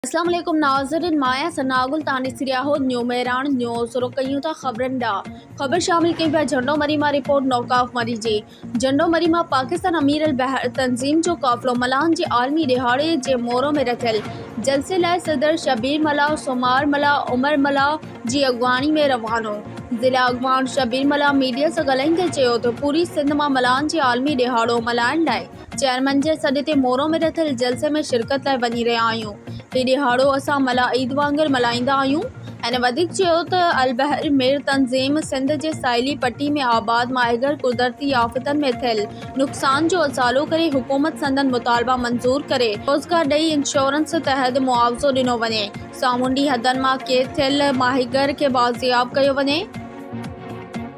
اسلام عليڪم ناظرين مان آهيان ثناء گل توهان ڏسي رهيا آهو نيو مهراڻ نيوز رخ ڪيون ٿا خبرن ڏانهن خبر شامل ڪئي پيا جهنڊو مري مان رپورٽ نوڪاف مري جي جهنڊو مري مان پاڪستان امير البحر تنظيم جو قافلو ملاحن جي عالمي ڏهاڙي جي مورو ۾ رٿيل جلسي لاء صدر شبير ملاح سومار ملاح عمر ملاح جي اڳواڻي ۾ روانو ضلع اڳواڻ شبير ملاح ميڊيا سان ڳالهائيندي چيو ته پوري سنڌ مان ملاحن جي عالمي ڏهاڙو ملهائڻ لاء چيئرمين جي سڏ تي مورو ۾ رٿيل جلسي ۾ شرڪت لاء وڃي رهيا آهيون. هي ڏهاڙو اسان ملاح عيد وانگر ملهائيندا آهيون. هن وڌيڪ چيو ته البحر مير تنظيم سنڌ جي ساحلي پٽي ۾ آباد ماهيگير قدرتي آفتن ۾ ٿيل نقصان جو ازالو ڪري حڪومت سندن مطالبا منظور ڪري روزگار ڏئي انشورنس تحت معاوضو ڏنو وڃي سامونڊي حدن مان قيد ٿيل ماهيگير کي بازياب ڪيو وڃي.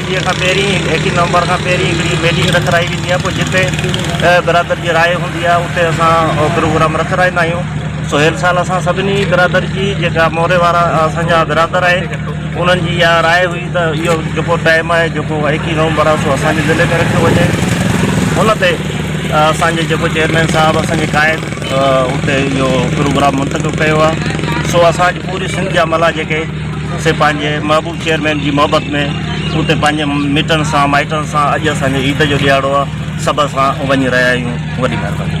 انهيء کان پهرين ايڪيهه نومبر کان پهرين هڪڙي ميٽنگ رکرائي ويندي آهي پوء جتي برادر جي راء هوندي آهي اتي اسان پروگرام رکرائيندا آهيون سهيل سال اسان سڀني برادر جي جيڪا موري وارا اسان جا برادر آهن انهن جي اها راء هئي ته اهو جيڪو ٽائيم آهي جيڪو ايڪيهه نومبر آهي سو اسان جي ضلعي ۾ رکيو وڃي ان تي اسان جي جيڪو چيئرمين صاحب اسان جي قائد اتي اهو پروگرام منتخب ڪيو آهي سو اسان جي پوري سنڌ جا ملا جيڪي سي پنهنجي محبوب چيئرمين جي محبت ۾ اتي پنهنجي مٽن سان مائٽن سان اڄ اسان جو عيد جو ڏيهاڙو آ سڀ اسان وڃي رهيا آهيون وڏي مهرباني.